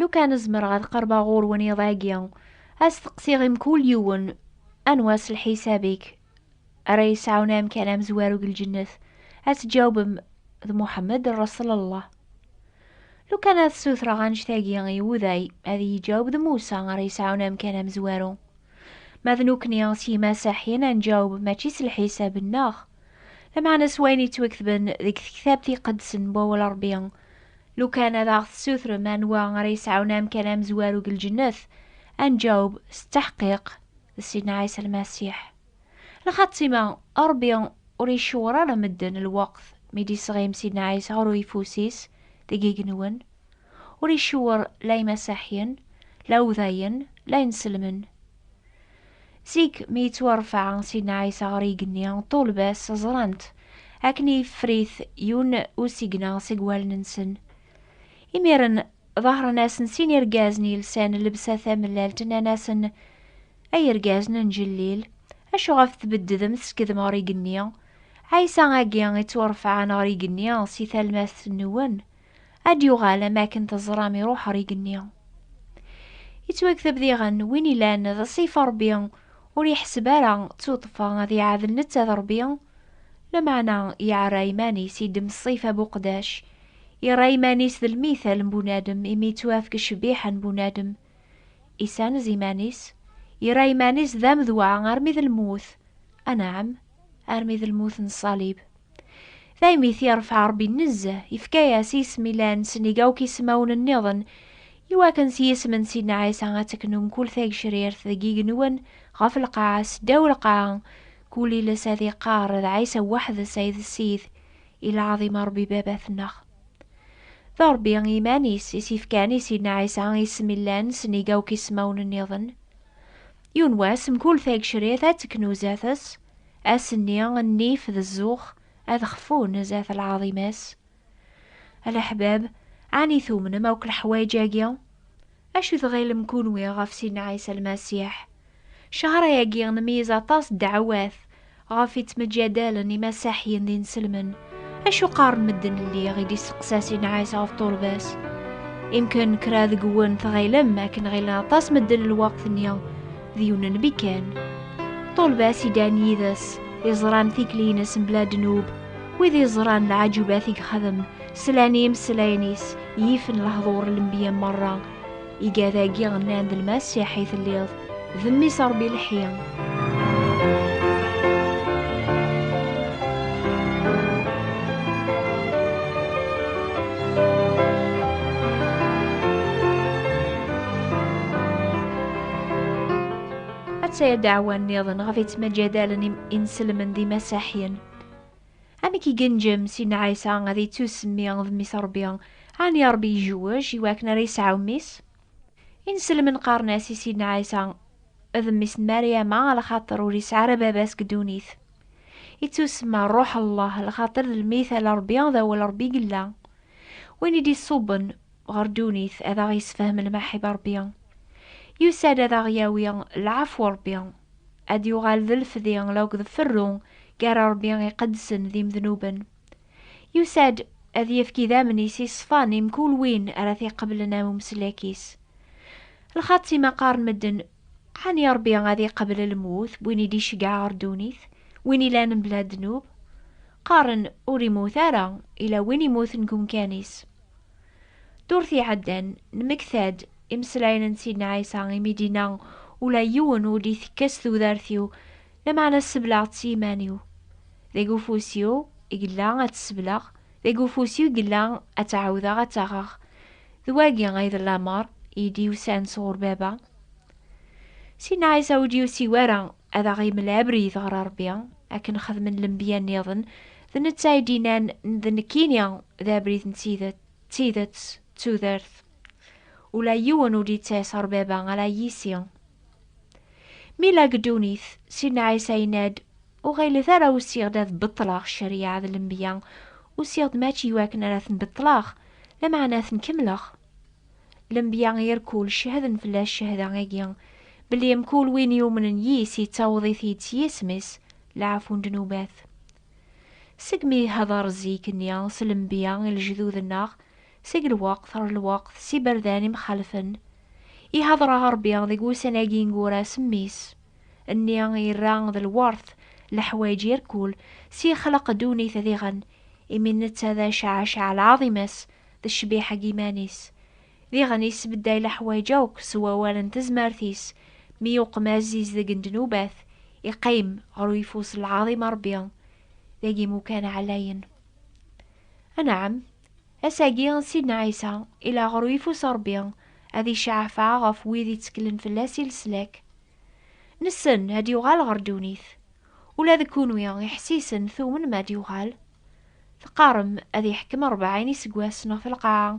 Lukan zemreɣ ad qerbeɣ ɣur-wen iḍ-agi, ad steqsiɣ i mkul yiwen, Anwa s lḥisab-ik ara yesɛun amkan amezwaru deg lǧennet? Ad tǧawbem, D Muḥemmed Rreṣlallah. Lukan ad sutreɣ annect-agi i uday, ad iyi-jaweb d Musa ara yesɛun amkan amezwaru. Ma d nukni s yimasaḥyen ad nǧaweb mačči s lḥisab-nneɣ, lameɛna s wayen yettwaketben deg tektabt iqedsen n wawal Rebbi, Lukan ad aɣ-tessutrem anwa ara yesɛun amkan amezwaru deg lǧennet, ad nǧaweb s ttaḥqiq d Sidna Ɛisa Lmasiḥ. Lxatima, Ṛebbi ur icewweṛ ara medden lweqt mi d-isɣim Sidna Ɛisa ɣer uyeffus-is deg igenwen. Ur icewweṛ la Imasaḥyen, la Uwdayen, la Inselmen. Zik mi yettwarfa Sidna Ɛisa ɣer yigenni, ṭṭulba-s ẓran-t, akken yeffer-it yun usigna seg wallen-nsen. Imiren ḍahren-asen sin irgazen yelsan llebsa tamellalt, nnan-asen, Ay irgazen n Jellil, acu ɣef tbeddedem teskedem ɣer yigenni? Ɛisa-agi ittwarfɛen ɣer yigenni si talmast-nwen? Ad yuɣal am akken teẓram iruḥ ɣer igenni. Yettwagtab diɣen win ilan d ṣṣifa Rebbi ur yeḥseb ara d tuṭfa ad iɛadel netta d Rebbi, lameɛna yeɛra iman-is idem ṣṣifa n uqdac, yerra iman-is d lmithal n bunadem imi yettwafk ccbiḥa n bunadem, isanez iman-is, yerra iman-is d amedwa armi d lmut, anɛam, armi d lmut n ṣṣalib. Daymi t-yerfeɛ Ṛebbi nezzeh, yefka-yas isem ilan sennig akk ismawen nniḍen, i wakken s yisem n Sidna Ɛisa ad teknu mkul tagecrirt deg igenwen, ɣef lqaɛa, s ddaw lqaɛa, kul iles ad iqqar, d Ɛisa weḥd-s ay d Ssid, i lɛaḍim a Ṛebbi Baba-tneɣ. D Ṛebbi i yiman-is i s-yefkan i Sidna Ɛisa isem ilan sennig akk ismawen nniḍen. Yiwen wass, mkul tagecrirt ad teknu zdat-s. Ass-nni, nnif d zzux ad xfun zdat lɛaḍima-s. A leḥbab, ɛni tumnem akk leḥwayeǧ-agi? Acu tɣilem kunwi ɣef Sidna Ɛisa Lmasiḥ? Ccehṛ-agi, nmeyyez aṭas ddeɛwat ɣef i ttmeǧǧadalen imasaḥyen d inselmen. Acu qqaren medden lliɣ i d-isteqsa si Nɛas ɣef turbas? Imken kra deg-wen tɣilem akken ɣilen aṭas medden lweqt-nni d yiwen n bikan. Turbas idan yid-s, iẓran tikli-ines mebla ddnub, wid iẓran lɛajubat i yexdem, slan i imeslayen-is, yifen lehdur n lembiya merra. Igad-agi nnan d lmasiḥ i telliḍ, d mmi-s Ṛebbi lḥi. Atta-ya ddeɛwa nniḍen ɣef yettmaǧadalen inselmen d imasaḥyen. Amek i genjem Sidna Ɛisa ad yettusemmi d Mmi-s Ṛebbi, ɛni Ṛebbi ijewwej i wakken ara yesɛu mmi-s? Inselmen qqaren-as i Sidna Ɛisa d mmi-s n Maryama lxaṭer ur yesɛi ara baba-s deg ddunit. Ittusemma Ṛṛuḥ Llah lxaṭer d lmit ala Ṛebbi d awal Ṛebbi i yella. Win i d-iṣubben ɣer ddunit ad aɣ-yessefhem lmaḥib Ṛebbi. Yusa-d ad aɣ-yawi lɛafw Ṛebbi. ad yuɣal d lefdi law d ferru gar Rebbi iqedsen d imednuben. Yusa-d ad yefk idammen-is i ṣṣfa-n i mkul win ara t-iqeblen am umeslak-is. Lxaṭ i ma qqaren medden, Ɛni Rebbi ad iqebl lmut n win i d-iceggeɛ ɣer ddunit, win ilan mebla ddnub? Qqaren, Ur immut ara, ila win immuten deg umkan-is. Ddurt iɛeddan, nemmekta-d imeslayen n Sidna Ɛisa imi d-inna, Ula yiwen ur d-itekkes tudert-iw, lameɛna sebleɣ-tt s yiman-iw. Deg ufus-iw i yella ad tt-sebleɣ, deg ufus-iw i yella ad tt-ɛawdeɣ ad tt-aɣeɣ. D wagi ay d lameṛ i yi-d-yusan sɣur Baba. Sidna Ɛisa ur d-yusi wara Ad aɣ-imel abrid ɣer Ṛebbi, akken xedmen lenbiya-nniḍen, d netta i d-innan, D nekkini, d abrid n tidet, d tidet, d tudert. Ula yiwen ur d-ittas ɣer Baba ala yis-i. Mi yella deg ddunit, Sidna Ɛisa yenna-d, Ur ɣilet ara usiɣ-d ad beṭṭleɣ cceryaɛ d lenbiya, usiɣ-d mačči i wakken ara ten-beṭṭleɣ, lameɛna ad ten-kemmleɣ. Lenbiya yir kul cehden fell-as cehda-agi, belli mkul win yumnen yis yettaweḍ-it-id s yisem-is leɛfu n ddnubat. Segmi ihder zik-nni s lenbiya i lejdud-nneɣ, seg lweqt ɣer lweqt s iberdan imxalfen, ihder-aɣ Rebbi deg wussan-agi ineggura s Mmi-s, nni irra d lwert leḥwayeǧ yir kul, s yexleq ddunit diɣen, imi netta d Acaɛacaɛ lɛaḍima-s, d ccbiḥa deg yiman-is, diɣen yesbedday leḥwayeǧ akk s wawal n tezmert-is, mi yuqem aziz deg n ddnubat, iqqim ɣer uyeffus n lɛaḍima Ṛebbi, deg imukan ɛlayen. Anɛam, ass-agi n Sidna Ɛisa, ila ɣer uyeffus n Ṛebbi, ad iceɛfeɛ ɣef wid itteklen fell-as i leslak. Nessen ad yuɣal ɣer ddunit. Ula d kunwi iḥessisen tumnem ad yuɣal? Teqqarem ad yeḥkem rebɛin iseggasen ɣef lqaɛa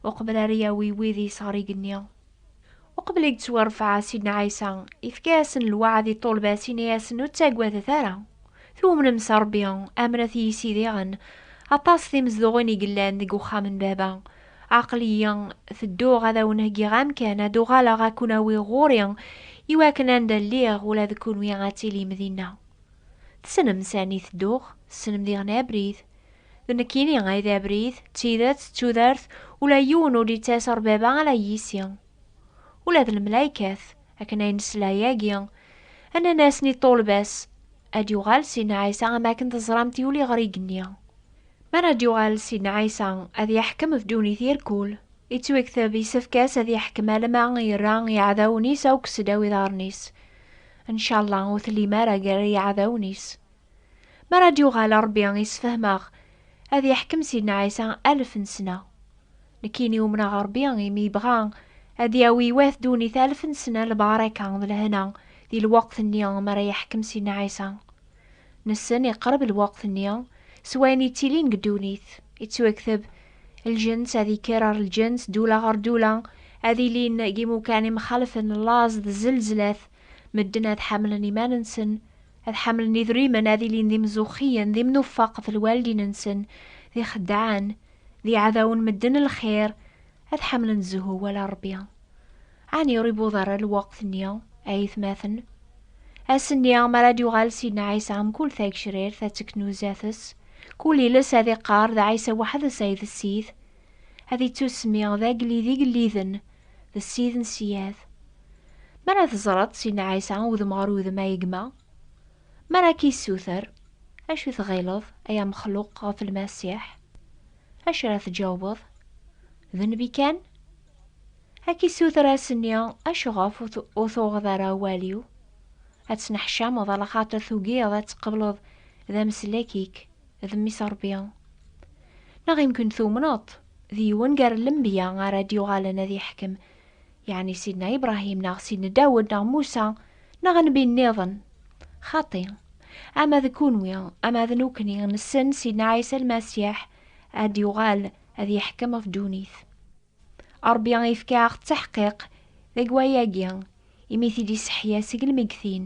uqbel ara yawi wid i yesɣer igenni. Uqbel i yettwarfeɛ Sidna Ɛisa, yefka-yasen lweɛd i ṭṭulba-s, yenna-yasen, Ur ttaggadet ara! Twumnem s Rebbi, amnet i yis-i diɣen. Aṭas timezduɣin i yellan deg uxxam n Baba. Aql-iyi tedduɣ ad awen-heggiɣ amkan, ad uɣaleɣ ad ken-awiɣ ɣur-i, iwakken anda lliɣ ula d kenwi ad tilim dinna. Tessnem sani tedduɣ, tessnem diɣ n abrid. D nekkini ay d abrid, d tidet, d tudert, ula yiwen ur d-yettas ɣer baba ala yis-i. Ula d lemlaykat, akken ay nesla yagi, nnan-asen i ṭṭulba-s, Ad yuɣal Sidna Ɛisa am akken teẓramt yuli ɣer igenni. Mi ara d-yuɣal Sidna Ɛisa, ad yeḥkem ɣef ddunit i rrkul. Yettwekteb, yessefk-as ad yeḥkem alamma yerra iɛdawen-is akk seddaw iḍarren-is. Ncallah ur tellim ara gar yiɛdawen-is. Mi ara d-yuɣal Rebbi yessefhem-aɣ, ad yeḥkem Sidna Ɛisa alef n ssna. Nekkini umneɣ Rebbi imi yebɣa ad yawi i wat ddunit alef n ssna lbaraka d lehna di lweqt-nni mi ara yeḥkem Sidna Ɛisa. Nessen iqreb lweqt-nni, s wayen yettilin deg ddunit, yettwakteb lǧens ad yekker ar lǧens, ddula ɣer ddula, ad ilin yimukan imxalfen, laẓ d zelzlat, medden ad ḥamlen iman-nsen, ad ḥamlen idrimen, ad ilin d imzuxxiyen, d imnufaq ɣef lwaldin-nsen, d ixeddaɛen, D iɛdawen medden lxir ad ḥamlen zzhu wala Rebbi. Ɛni ur iwweḍ ara lweqt-nni, ay itmaten? Ass-nni mi ara d-yuɣal Sidna Ɛisa mkul tagecrirt ad teknuza-t-s, kul iles ad iqqar d Ɛisa weḥd-s ay d Ssid. Ad ittusemmi d Agellid igelliden, d Ssid n ssyad. Mi ara teẓreḍ Sidna Ɛisa udem ɣer udem a gma. Mi ara k-yessuter, acu i tɣileḍ, ay amexluq, ɣef Lmasiḥ? Acu ara tǧawbeḍ? D nnbi kan? Ad k-issuter ad s-nni, Acuɣef ur tuɣeḍ ara awal-iw? Ad tneḥcameḍ ala xaṭer tugiḍ ad tqebleḍ d ameslak-ik d Mmi-s Ṛebbi? Neɣ imkun tumneḍ-t d yiwen gar lenbiya ara d-yuɣalen ad iḥkem Yeɛni Sidna Ibṛahim neɣ Sidna Dawed neɣ Musa neɣ nnbi nniḍen. Xaṭi, ama d kunwi ama d nukni nessen Sidna Ɛisa Lmasiḥ ad d-yuɣal ad yeḥkem ɣef ddunit. Ṛebbi yefka-aɣ-d taḥqiq deg wayagi imi i t-id-iseḥya seg lmeggtin.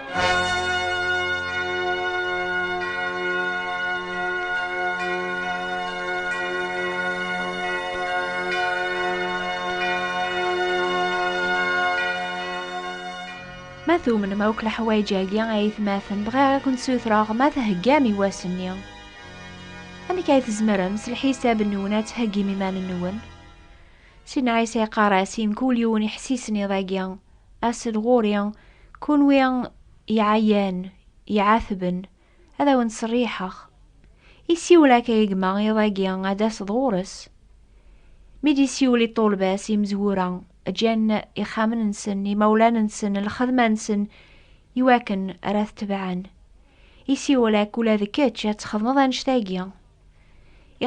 Ma tumnem akk leḥwayeǧ-agi ay aytmaten bɣiɣ ad kent-sutreɣ ma theggam i wass-nni. Amek ay tzemrem s lḥisab-nwen ad theggim iman-nwen? Sidna Ɛisa yeqqar-as i mkul yiwen iḥessisen iḍ-agi, Asen ɣur-i, kunwi iɛayan, iɛatben, ad awen-ttserriḥeɣ. I siwel akka i gma iḍ-agi ad d-taseḍ ɣur-s. Mi d-isiwel i ṭṭulba-s, imezwura ǧǧan ixxamen-nsen, imawlan-nsen, lxedma-nsen i wakken ara t-tebɛen. I siwel akka ula d kečč ad txedmeḍ annect-agi.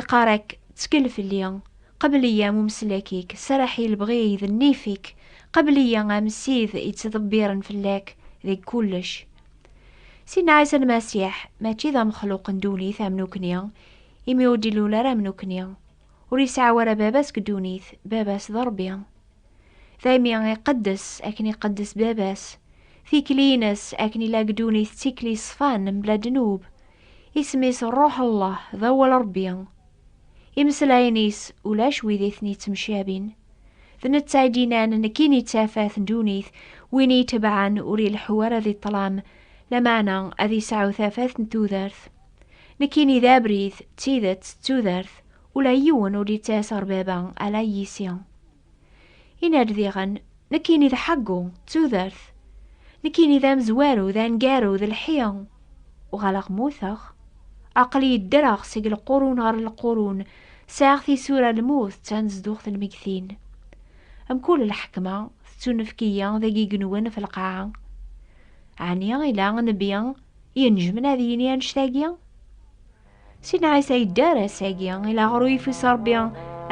Iqarak, ttkel fell-i, qebl-iyi am umeslak-ik, serreḥ i lebɣi-y d nnif-ik, qebl-iyi am ssid yettḍebbiren fell-ak deg kullec. Sidna Ɛisa Lmasiḥ mačči d amexluq n ddunit am nukni, imi ur d-ilul ara am nukni. Ur yesɛi ara baba seg ddunit, baba-s d Ṛebbi. Daymi iqeddes akken iqeddes baba-s, tikli-ines akken ilaq ddunit d tikli ṣṣfan mebla ddnub, Isem-is Ṛṛuḥ Llah, d awal Ṛebbi. Imeslayen-is ulac wid i ten-ittemcabin. D netta i d-yennan, Nekkini d tafat n ddunit, win i yi-tebɛen ur ileḥḥu ara di ṭṭlam, lameɛna ad yesɛu tafat n tudert. Nekkini d abrid, d tidet, d tudert, ula yiwen ur d-ittas ɣer Baba, ala yis-i. Inardiɣen, nekkini d ḥeggu, d tudert. Nekkini d amezwaru, d aneggaru, d lḥi. Uɣaleɣ mmuteɣ. Aql-iyi ddreɣ seg lqurun ɣer lqurun, sɛiɣ tisura, lmut d tanezduɣt n lmegtin. Mkul lḥekma tettunefk-iyi d agigenwen f lqaɛa. Ɛni ila nnbi yenejmen ad yini annect-agi? Si nɛisa yedder ass-agi, ilaɣer ur yifis Rebbi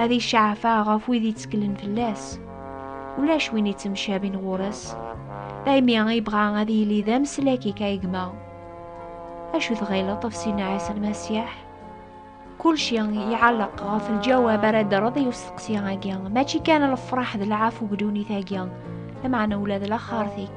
ad icaɛfeɣ ɣef wid yetteklen fell-as. Ulac win yettemcabin ɣur-s. Daymi ibɣa ad yili d ameslak i kayegma. Acu tɣileḍ ɣef Si Nɛisa Lmasiḥ? Kulci iɛelleq ɣef lǧawab ara d-rreḍ i usteqsi-agi. Mačči kan lefraḥ d lɛafu deg ddunit-agi, lameɛna ula d laxert-ik.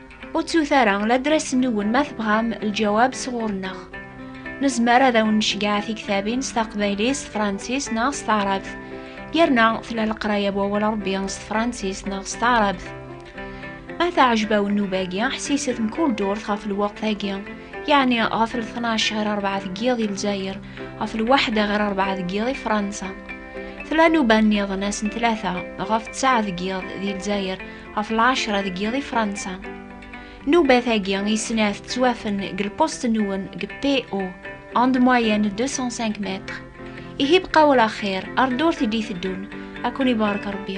Ur ttut ara ladras-nwen ma tebɣam lǧawab sɣur-neɣ. Nezmer ad awen-necgeɛ tiktabin s taqbaylit, s tefransist neɣ s taɛrabt. Yerna tella leqraya n wawal Ṛebbi s tefransist neɣ s taɛrabt. Ma teɛjeb-awen nnuba-agi, ḥsiset mkul durt ɣef lweqt-agi, yeɛni ɣef lṭnac ɣer ṛebɛa deg yiḍ i Lezzayer, ɣef lwaḥda ɣer ṛebɛa deg yiḍ i Fransa. Tella nnuba-nniḍen ass n tlata, ɣef ttesɛa deg yiḍ di Lezzayer, ɣef lɛecra deg yiḍ i Fransa. Nnubat-agi i snat ttwafen deg lpust-nwen deg PO, en de moyenne 205 mètres. Ihi bqa wala axir, ar ddurt i d-iteddun, ad ken-ibarek Rebbi.